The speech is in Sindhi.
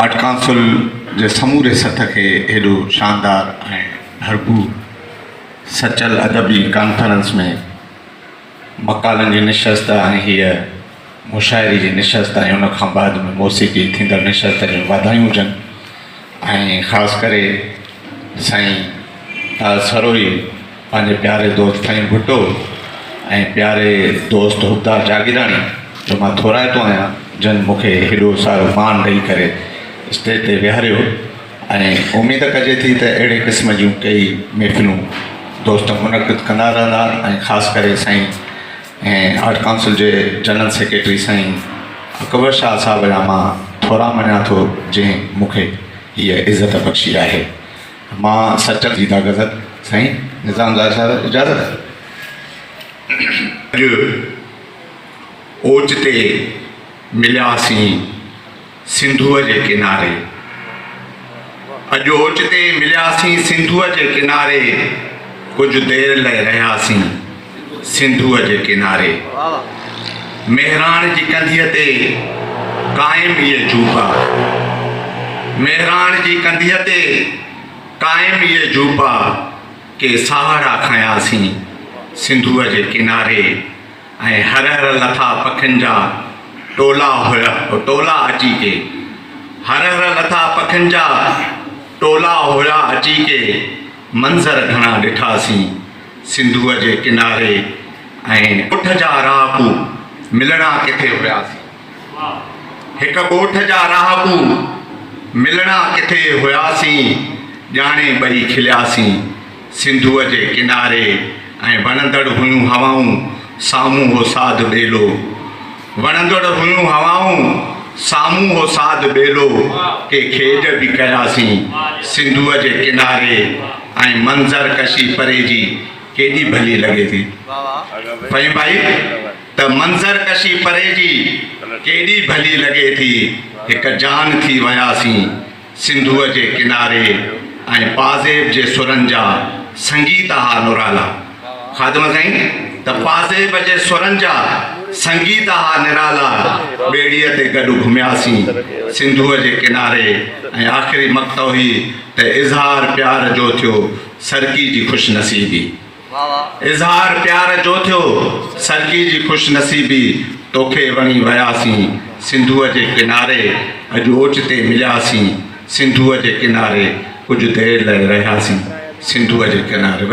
اٽڪانسل جي سموري سٿ کي هيڏو شاندار ۽ ڀرپور سچل ادبي ڪانفرنس ۾ مقالن جي نشست ۽ هيء مشاعري جي نشست ۽ ان کان بعد ۾ موسيقي ٿيندڙ نشست جون واڌايون هجن ۽ خاص ڪري سائين طاهر سروهي پنهنجي پياري دوست فهيم ڀٽو ۽ پياري دوست حبدار جاگيراڻي جو مان ٿورائتو آهيان جن مون کي هيڏو سارو مان ڏئي ڪري اسٽيج تي ويهاريو ۽ اميد ڪجي ٿي ته اهڙي قسم جون ڪيئي محفلون دوست منعقد ڪندا رهندا ۽ خاص ڪري سائين آرٽ ڪائونسل جي جنرل سيڪريٽري سائين اڪبر شاهه صاحب جا مان ٿورا مڃان ٿو جنهن مون کي هيء عزت بخشي آهي مان سچل جي ٿا غزل سائين نظام لاء صاحب اجازت اڄ اوچتي ملياسين سنڌوء جي ڪناري اڄ اوچتي ملياسين سنڌوء جي ڪناري ڪجهه دير لئي رهياسين سنڌوء جي ڪناري، مهراڻ جي ڪنڌيء تي قائم هيء جوپا، مهراڻ جي ڪنڌيء تي قائم هيء جوپا، ڪي ساهڙا کنياسين سنڌوء جي ڪناري ۽ هر هر لٿا پکين جا ٽولا هيء ٽولا اچي ڪي، هر هر لٿا پکين جا ٽولا هيا اچي ڪي، منظر گهڻا ڏٺاسين. سنڌوء جي ڪناري ۽ ڳوٺ جا رهاڪو ملڻا ڪٿي هياسين. هڪ ڳوٺ جا رهاڪو ملڻا ڪٿي هياسين، ڄاڻي ٻئي کلياسين. سنڌوء جي ڪناري ۽ وڻندڙ هيون هوائون، سامهون هو ساڌ ٻيلو. وڻندڙ هيون هوائون، سامهون هو ساڌ ٻيلو، ڪي کيڄ به ڪياسين سنڌوء جي ڪناري ۽ منظر ڪشي پري جي ڪيڏي ڀلي لڳي ٿي. فهيم ڀائي ته منظر ڪشي پري جي ڪيڏي ڀلي لڳي ٿي هڪ جان ٿي وياسين. سنڌوء جي ڪناري ۽ پازيب جي سرن جا سنگيت اها نرالا. خادم سائين ته پازيب جي سرن جا سنگيت اها نرالا ٻيڙيء تي گڏ گهمياسين سنڌوء جي ڪناري ۽ آخري مقطعو هي ته اظهار پيار جو ٿيو سرڪي جي خوش نصيبي. اظهار پيار جو ٿيو سرگي جي خوش نصيبي توکي وڻي وياسين سنڌوء جي ڪناري اڄ اوچتي ملياسين سنڌوء جي ڪناري ڪجهه دير لئه رهياسين سنڌوء جي ڪناري.